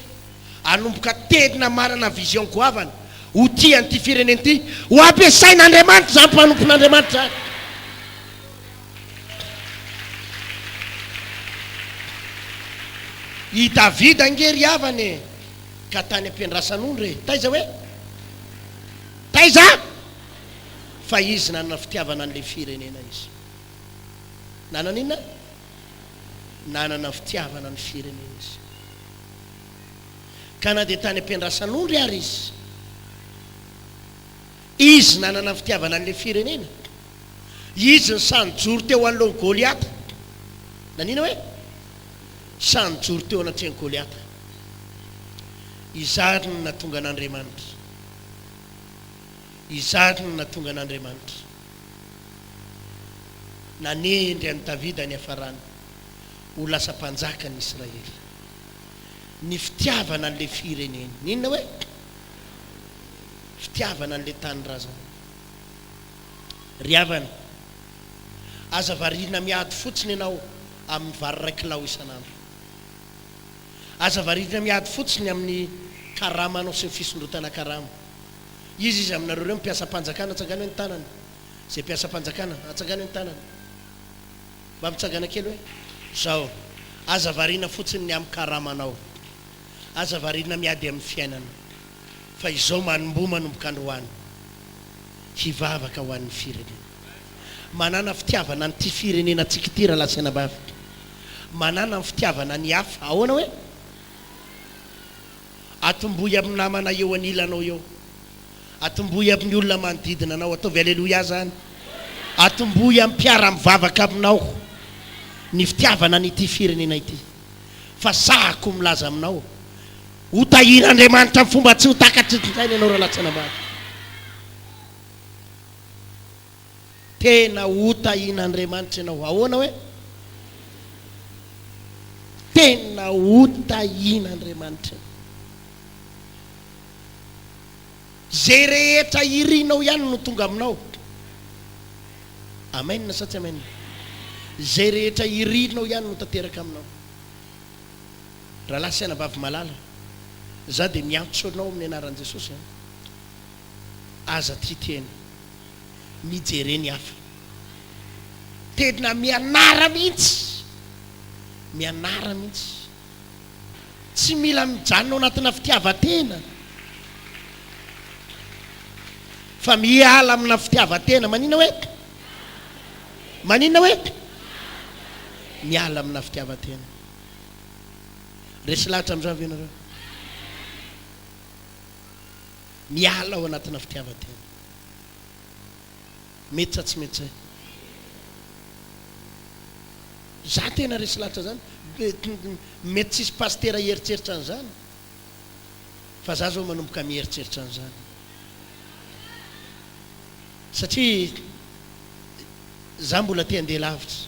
hanomboka teny na manana vision goavana ho tia an'ity firenena ity, ho ampiasain'Andriamanitra izany mpanompon'Andriamanitra izany. I Davida ange ry havana e! Ka tany am-piandrasan'ondry e! Taiza hoe? Taiza? Fa izy nanana fitiavana an'ilay firenena izy. Nanana inona? Nanana fitiavana ny firenena izy. Ka na dia tany am-piandrasan'ondry ary izy, Izy nanana ny fitiavana an'ilay firenena. Izy no sahy nijoro teo anoloan'i Goliata. Naniana hoe? Sahy nijoro teo anatrehan'i Goliata. Izany no nahatonga an'Andriamanitra. Izany no nahatonga an'Andriamanitra. Nanendry an'i Davida niafarany ho lasa mpanjakan'i Israely. Ny fitiavana an'ilay firenena. Niniana hoe? Fitiavana an'ilay tanindrazana. Ry havana, aza variana miady fotsiny ianao amin'ny vary iray kilao isan'andro. Aza variana miady fotsiny amin'ny karamanao sy ny fisondrotana karama. Iza izy aminareo ireo no mpiasam-panjakana? Atsangano eny tanana izay mpiasam-panjakana. Atsangano eny tanana. Mba mitsangana kely hoe. Izao, aza variana fotsiny ny amin'ny karamanao. Aza variana miady amin'ny fiainana. fa izao manomboha manomboka androany hivavaka ho an'ny firenena manana fitiavana an'ity firenenantsika ity Ralasenabavitra manana ny fitiavana ny hafa ahoana hoe atombohy amin'ny namana eo anilanao eo atombohy amin'ny olona manodidina anao ataovy aleloia zany atombohy amin'ny mpiara mivavaka aminao ny fitiavana an'ity firenena ity fa sahako milaza aminao Ho tahian'Andriamanitra amin'ny fomba tsy ho takatry ny findainy ianao Ralatsina Maro. Tena ho tahian'Andriamanitra ianao. Ahoana hoe? Tena ho tahian'Andriamanitra ianao. Izay rehetra irinao ihany no tonga aminao. Amen sa tsy amen? Izay rehetra irinao ihany no tanteraka aminao. Rahalahy sy anabavy malala, za dia miantso anao amin'ny anaran'i Jesosy an! Aza tia tena mijere ny hafa. Tena mianara mihitsy, mianara mihitsy. Tsy mila mijanona ao anatina fitiavan-tena, fa miala amina fitiavan-tena. Manina hoe? Manina hoe? Miala amina fitiavan-tena. Resy lahatra amin'izany ve ianareo? Miala ao anatina fitiavan-tena. Mety sa tsy mety izay? Za tena resy lahatra zany. Mety tsisy pasitera hieritreritra an'izany. Fa za zao manomboka mieritreritra an'izany. Satria za mbola te handeha lavitra.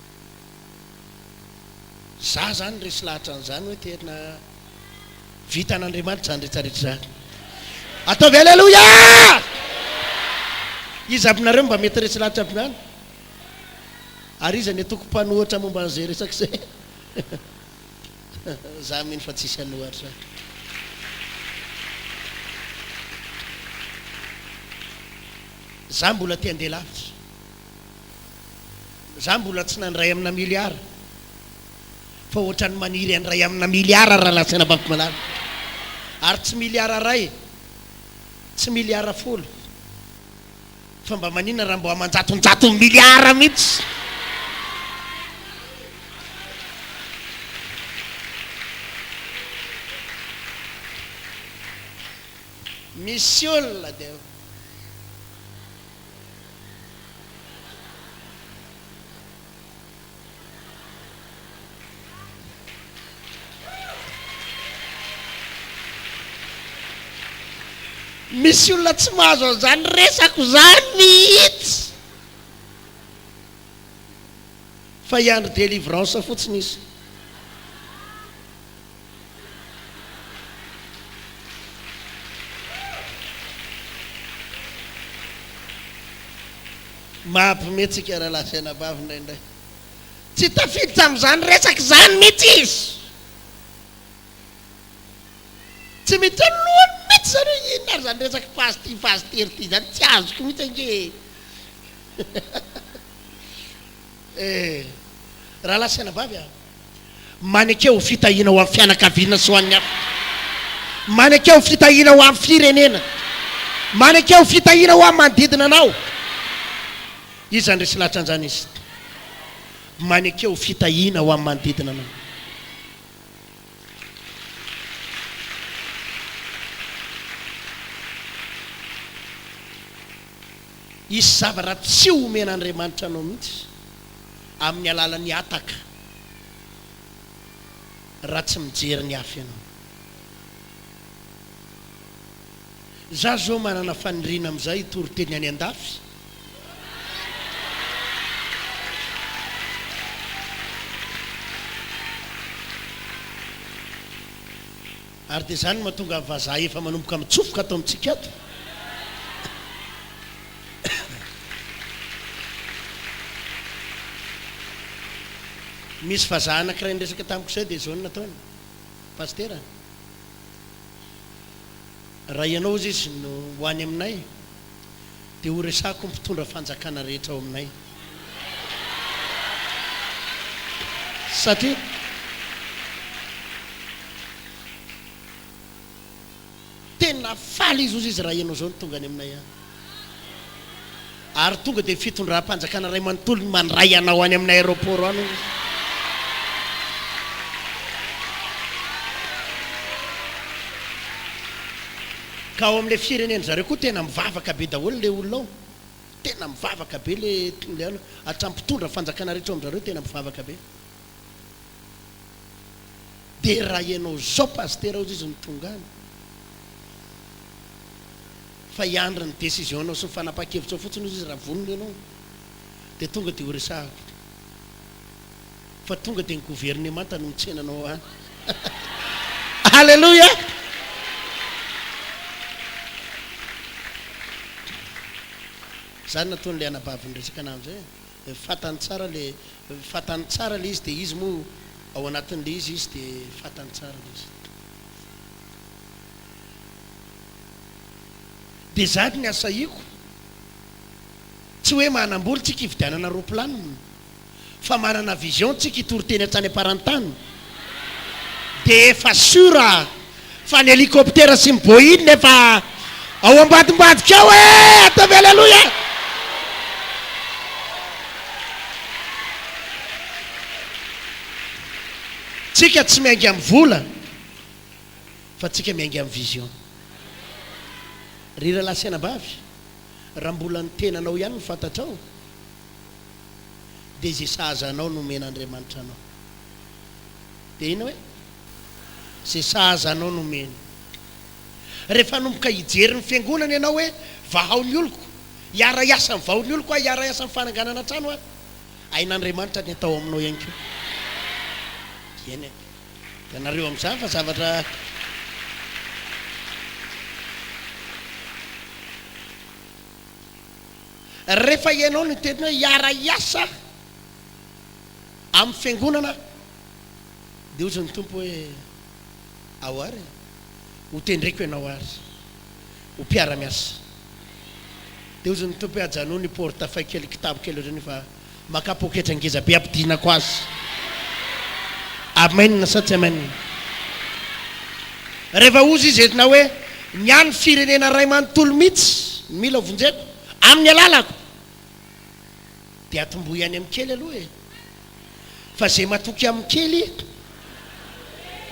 Izaho izany resy lahatra an'izany hoe tena vitan'Andriamanitra izany rehetra rehetra izany. Ataovy Aleloia! Iza aminareo no mba mety resy lahatra aby izany? Ary iza ny atoko mpanohatra momba an'izay resaka izay? Izaho mino fa tsisy hanohatra. Izaho mbola te handeha lavitra. Za mbola tsy nandray amina miliara fa ohatrany maniry handray amina miliara raha latsy any banky malala ary tsy miliara ray tsy miliara folo fa mba maninona raha mbo amanjatonjatony miliara mitsy misy olona dia Misy olona tsy mahazo an'izany resako izany mihitsy fa hiandry delivrance fotsiny izy. Mahampime antsika rahalahy sy anabavy indraindray. Tsy tafiditra amin'izany resaka izany mihitsy izy. Tsy miditra ny lohany mihitsy izany hoe inona ary izany resaka pasty pasteur ity izany, tsy azoko mihitsy ange e! Eh, rahalahy sy anabavy a! Maneke ho fitahiana ho an'ny fianakaviana sy ho an'ny hafa. Maneke ho fitahiana ho an'ny firenena. Maneke ho fitahiana ho amin'ny manodidina anao. Iza no resy lahatra an'izany izy? Maneke ho fitahiana ho amin'ny manodidina anao. Hisy zavatra tsy homen'Andriamanitra anao mihitsy. amin'ny alalan'ny hataka raha tsy mijery ny hafa ianao. Za zao manana faniriana amin'izay hitory teny any andafy. Ary dia izany no mahatonga ny vazaha efa manomboka mitsofoka ato amintsika ato. Misy vazaha anankiray niresaka tamiko izay dia izao no nataony, Pasitera, raha ianao hozy izy no ho any aminay, dia ho resako ny mpitondra fanjakana rehetra ao aminay satria tena faly izy hozy izy raha ianao izao no tonga any aminay any ary tonga dia fitondram-panjakana iray manontolo ny mandray anao any amin'ny aéroport any hozy izy Ka ao amin'ilay firenen'ny zareo koa tena mivavaka be daholo ilay olona ao. Tena mivavaka be ilay ilay olona. Hatramin'ny mpitondra fanjakana rehetra ao amin-dRareo tena mivavaka be. Dia raha ianao izao Pasitera hozy izy no tonga any, fa hiandry ny décision-nao sy ny fanapahan-kevitrao fotsiny hozy izy raha vonona ianao, dia tonga dia horesahako. fa tonga dia ny governemanta no mitsena anao any. Alléluia! Zany nataon'ilay anabavy niresaka anah amizay e, fatany tsara le, fatany tsara le izy de izy moa ao anatin'le izy izy de fatany tsara le izy. De zany ny asahiako, tsy hoe manambola tsika hividianana roplanina, fa manana vision tsika hitory teny hatrany am-parantany dia efa sur fa ny helicoptera sy ny boeing efa ao ambadimbadika ao e! ataovy aleloia! tsika tsy miainga amin'ny vola fa tsika miainga amin'ny vision ry rahalahy sy anabavy raha mbola ny tenanao ihany ny fantatrao Dia izay sahaza anao no omen'Andriamanitra anao. Dia inona hoe? Izay sahaza anao no omeny. Rehefa hanomboka hijery ny Fiangonana ianao hoe, vahao ny oloko, hiara-hiasa amin'ny vahoan'ny oloko aho, hiara-hiasa amin'ny fananganana trano aho, hain'Andriamanitra ny atao aminao ihany koa. Eny e. Hitanareo amin'izany fa zavatra. Rehefa ianao no teny hoe hiara-hiasa amin'ny fiangonana dia hozy ny Tompo hoe, ao ary e, ho tendreko ianao ary ho mpiara-miasa. Dia hozy ny Tompo hoe, ajanony porte fay kely, kitabo kely ohatran'io fa. Makà poketra ngeza be ampidinako azy. Amen sa tsy amen? Rehefa ozy izy eto na hoe ny any firenena ray manontolo mitsy no mila vonjeko amin'ny alalako dia atombohy any amin'ny kely aloha e! Fa ze matoky amin'ny kely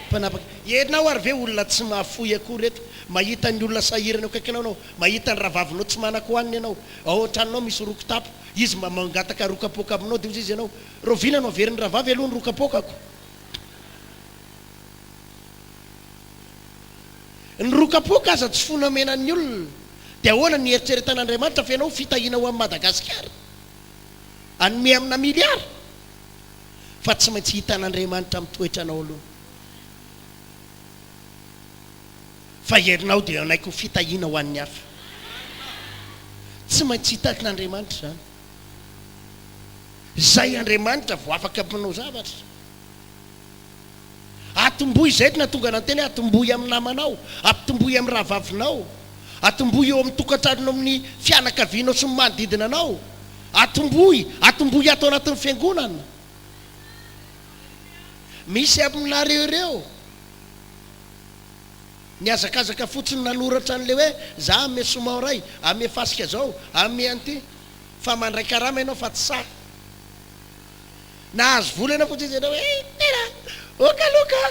mpanapaka. Ianao ary ve olona tsy mahafoy akory eto? Mahita ny olona sahirana eo akaikinao ianao, mahita ny rahavavinao tsy manan-ko hanina ianao, ao an-tranonao misy roky tapo, Izy mba mangataka rokapoaka aminao dia hozy izy ianao, rahoviana no haverin'ny rahavavy aloha ny rokapoakako? Ny rokapoaka aza tsy fona omena ny olona, dia ahoana ny eritreretan'Andriamanitra fa ianao fitahiana ho an'i Madagasikara? Hanome amina miliara? Fa tsy maintsy hitan'Andriamanitra amin'ny toetranao aloha. Fa herinao dia hanaiky ho fitahiana ho an'ny hafa. Tsy maintsy hitan'Andriamanitra izany. Izay Andriamanitra vao afaka manao zavatra. Atombohy izay nahatonga anao teny, atombohy amin'ny namanao, atombohy amin'ny rahavavinao, atombohy eo amin'ny tokantranonao, amin'ny fianakavianao sy ny manodidina anao, atombohy, atombohy ato anatin'ny fiangonana. Misy aminareo ireo. Nihazakazaka fotsiny nanoratra an'ilay hoe za ame soma oray, ame fasika zao, ame an'ity. Fa mandray karama ianao fa tsy sahy. Nahazo vola ianao fotsiny zay hoe tena ok aloha ka.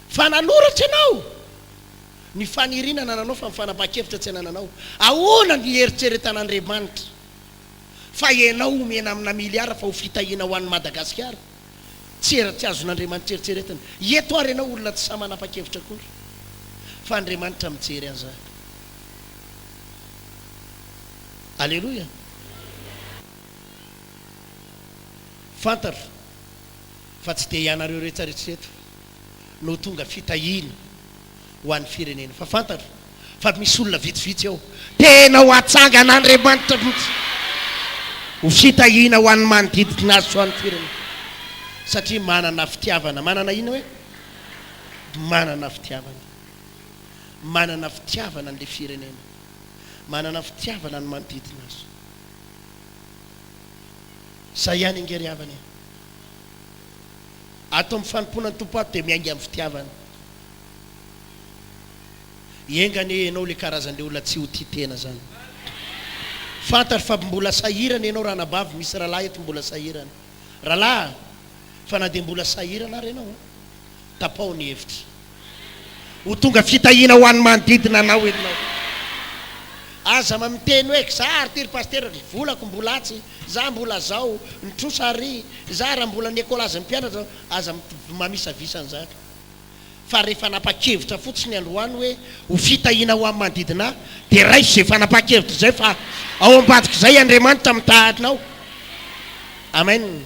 Fa nanoratra ianao ny faniriana anananao fa ny fanapahan-kevitra tsy anananao. Ahoana ny hieritreretana Andriamanitra fa ianao omena amina miliara fa ho fitahiana ho an'i Madagasikara? Tsy era tsy azon'Andriamanitra eritreretina. Eto ary ianao olona tsy sahy manapa-kevitra akory. Fa Andriamanitra mijery an'izany. Aleloia! Fantatro fa tsy dia ianareo rehetra rehetra eto no tonga fitahiana ho an'ny firenena fa fantatro fa misy olona vitsivitsy ao tena ho atsangan'Andriamanitra mihitsy ho fitahiana ho an'ny manodidina azy sy ho an'ny firenena satria manana fitiavana manana inona hoe manana fitiavana manana fitiavana an'ilay firenena manana fitiavana ny manodidina azy izay ihany ange ry havana e Ato amin'ny fanompoana ny Tompo ato dia miainga amin'ny fitiavana. Enga anie ianao ilay karazan'ilay olona tsy ho tia tena izany. Fantatro fa mbola sahirana ianao ranabavy, misy rahalahy eto mbola sahirana. Rahalahy a! Fa na dia mbola sahirana ary ianao a! Tapaho ny hevitra. Ho tonga fitahiana ho an'ny manodidina anao ianao. Aza ma miteny hoe za ary ty ry pasitera ry volako mbola atsy, za mbola zao, ny trosa ary za raha mbola ny ekolajy ny mpianatra, aza mamisavisa an'izany fa re fanapakevitra fotsiny androany hoe ho fitahiana ho an'ny manodidina ahy dia raiso zay fanapakevitra zay fa ao ambadik'izay Andriamanitra mitaha anao. Amen.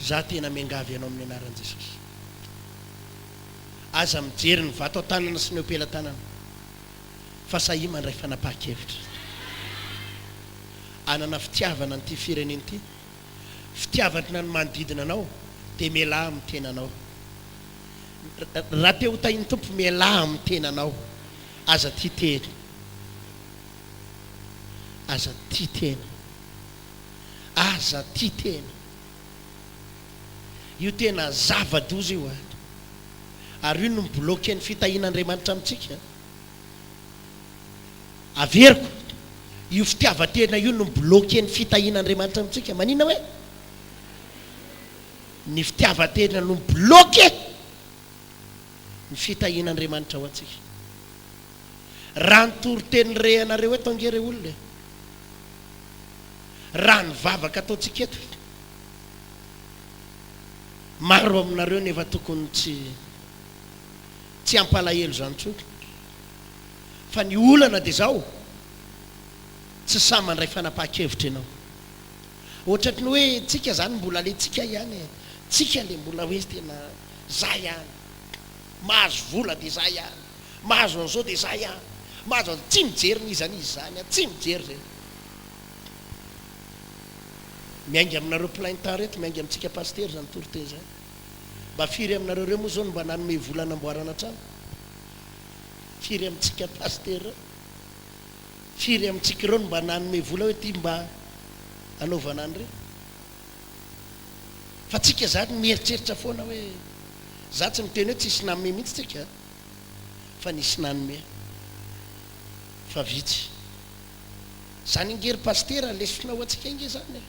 Za tena miangavy anao amin'ny anaran'i Jesosy. Aza mijery ny vato an-tanana sy ny eo am-pelatanana fa sahia mandray fanapahan-kevitra. Anana fitiavana an'ity firenena ity, fitiavana ny manodidina anao dia mialà amin'ny tenanao. Raha te ho tahin'ny Tompo mialà amin'ny tenanao. Aza tia tena. Aza tia tena. Aza tia tena. Io tena zava-doza io ato. Ary io no mi-bloquer ny fitahian'Andriamanitra amintsika. Averiko, io fitiavan-tena io no mi-bloquer ny fitahian'Andriamanitra amintsika. Maninona hoe? Ny fitiavan-tena no mi-bloquer ny fitahian'Andriamanitra ho antsika. Raha ny toriteny rehanareo eto ange re olona e! Raha ny vavaka ataontsika eto, maro aminareo nefa tokony tsy tsy hampalahelo izany intsony. Fa ny olana dia izao, tsy sahy mandray fanapahan-kevitra ianao. Ohatratry ny hoe tsika izany mbola le tsika ihany e, tsika le mbola hoe tena zah ihany. Mahazo vola dia zay ihany, mahazo an'izao dia zay ihany, mahazo an'izao, tsy mijery n'iza n'iza izany an, tsy mijery izay. Miainga aminareo plein temps reto, miainga amintsika pasitera izany toriteny izany. Mba firy aminareo ireo moa izao no mba nanome vola hanamboarana trano? Firy amintsika pasitera ireo? Firy amintsika ireo no mba nanome vola hoe ity mba hanaovana an'ireny? Fa tsika zany mieritreritra foana hoe za tsy niteny hoe tsisy nanome mihitsy tsika fa nisy nanome fa vitsy zany ange ry pasitera lesona ho antsika ange zany e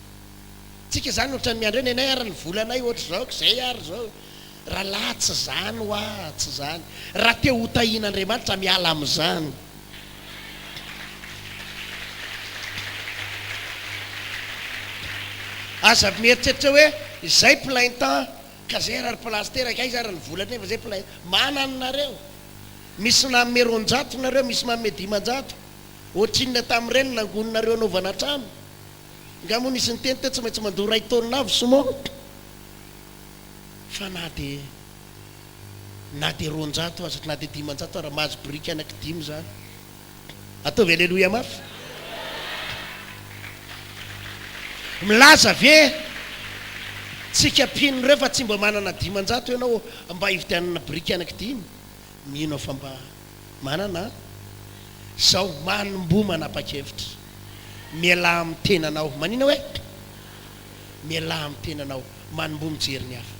tsika zany otrany miandry hoe nenay ary ny volanay otrzao kzay ary zao Ra lahy tsy zany wa tsy zany. Ra te ho tahin Andriamanitra miala am zany. Aza mieritreritra hoe zay plein temps ka zay ary place teraka aiza ary ny vola nefa zay plein manan nareo. Misy nanome roanjato nareo misy manome dimanjato. Otrinona tam reny nangon nareo anaovana trano. Nga mo nisy niteny teo tsy maintsy mandoa ray taonina avy simo. fa na dia na dia roanjato aza na dia dimanjato aza mahazo biriky anaky dimy zany ataovy aleloia mafy milaza ve tsika mpino reo fa tsy mba manana dimanjato ianao mba hividianana biriky anaky dimy mino aho fa mba manana zao manomboa manapa-kevitra mialà amin'ny tenanao manina hoe Mialaha amin'ny tenanao, manomboha mijery ny hafa.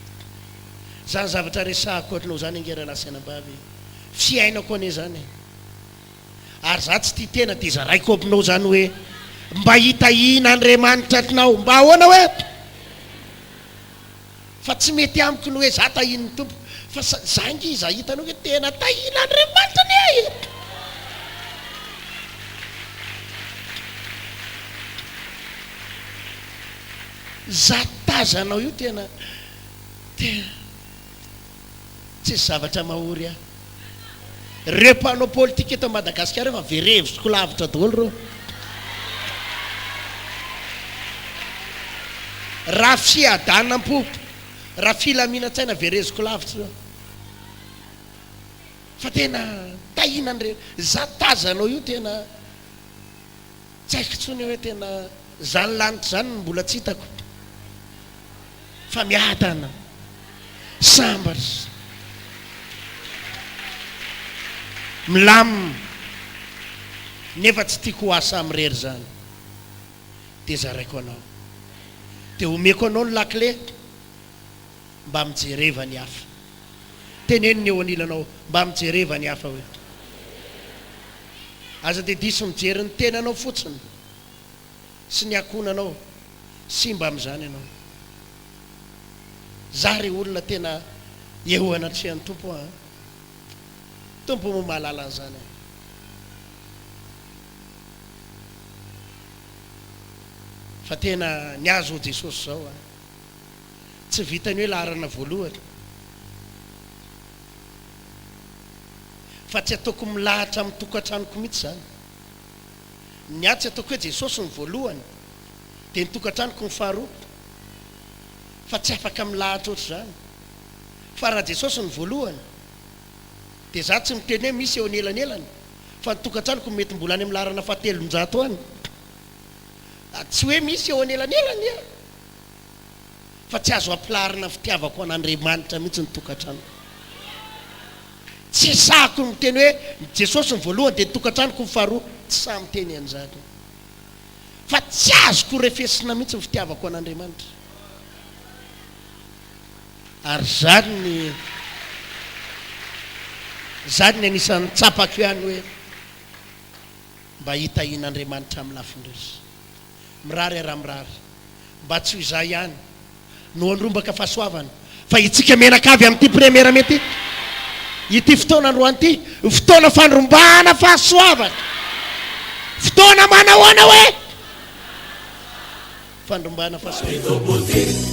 Izany zavatra resahako ohatranao izany ange rahalahy sy anabavy e! Fiainako anie izany e! Ary izaho tsy tia tena dia zaraiko aminao izany hoe, mba hitahian'Andriamanitra anao mba ahoana hoe? Fa tsy mety amiko ny hoe za tahin'ny Tompo fa za nge iza hitanao ve tena tahin'Andriamanitra anie ahy e! Za tazanao io tena tena Tsisy zavatra mahory ahy. Reo mpanao politika eto Madagasikara efa very hevitro lavitra daholo reo. Raha fiadanam-po, raha filaminan-tsaina vereziko lavitra reo. Fa tena tahinan'ireny. Za tazanao io tena Tsy haiko tsony hoe tena zany lanitra zany no mbola tsy hitako fa miadana sambatra milamina nefa tsy tiako ho asa amirery zany de zaraiko anao de omeko anao ny lakile Mba mijereva ny hafa. Teneno ny eo anilanao, mba mijereva ny hafa hoe. Aza dia diso mijery ny tenanao fotsiny sy ny ankohonanao. Simba amin'izany ianao. Zah re olona tena eo anatrehan'ny Tompo an! Tompo moa mahalala an'izany an! Fa tena ny azy ho Jesosy izao an! Tsy vitan'ny hoe laharana voalohany fa tsy ataoko milahatra amin'ny tokantranoko mihitsy izany. Ny ahy tsy ataoko hoe Jesosy no voalohany dia ny tokantranoko no faharoa fa tsy afaka milahatra ohatr'izany. Fa raha Jesosy no voalohany dia izaho tsy miteny hoe misy eo anelanelany fa ny tokantranoko mety mbola any amin'ny laharana fahatelonjato any. Tsy hoe misy eo anelanelany e! fa tsy azo ampilarina fitiavako an'Andriamanitra mihitsy ny tokantranoko. Tsy hisahako ny miteny hoe Jesosy ny voalohany dia ny tokantranoko ny faharoa, tsy sahy miteny an'izany. Fa tsy azoko refesina mihitsy ny fitiavako an'Andriamanitra. Ary izany ny izany ny anisan'ny tsapako ihany hoe mba hitahian'Andriamanitra amin'ny lafiny rehetra. Mirary ara mirary. Mba tsy ho izaho ihany no handrombaka fahasoavana fa itsika menaka avy amin'ity première mety ity. Ity fotoana androany ity fotoana fandrombahana fahasoavana. Fotoana manahoana hoe fandrombahana fahasoavana?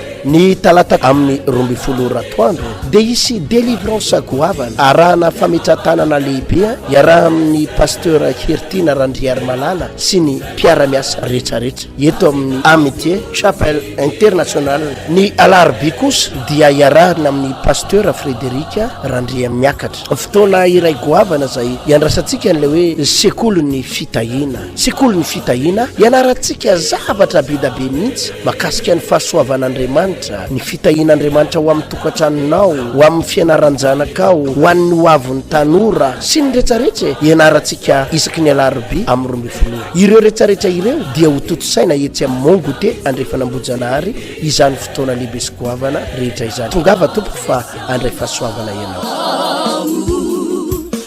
Ny talata amin'ny roa ambin'ny folo ora atoandro dia hisy delivrance goavana arahana fametratanana lehibe iaraha amin'ny Pasteur Hertina Randriarimalala sy ny mpiara-miasa rehetrarehetra eto amin'ny Amitié Chapel International. Ny alarobia kosa dia iarahana amin'ny Pasteur Frederic Randriamiakatra. Fotoana iray goavana izay iandrasantsika an'ilay hoe sekolin'ny fitahiana. Sekoly ny fitahiana, ianarantsika zavatra be da be mihitsy makasika ny fahasoavan'Andriamanitra, ny fitahian'Andriamanitra ho amin'ny tokantranonao, ho amin'ny fianaran-janakao, ho an'ny ho avin'ny tanora, sy ny rehetrarehetra e! Ianarantsika isaky ny alarobia amin'ny roa ambin'ny folo ora. Ireo rehetrarehetra ireo dia ho tontosaina etsy amin'ny Mont Goûter Andrefan'Ambohijanahary izany fotoana lehibe sy goavana rehetra izany. Tongava tompoko fa handray fahasoavana ianao.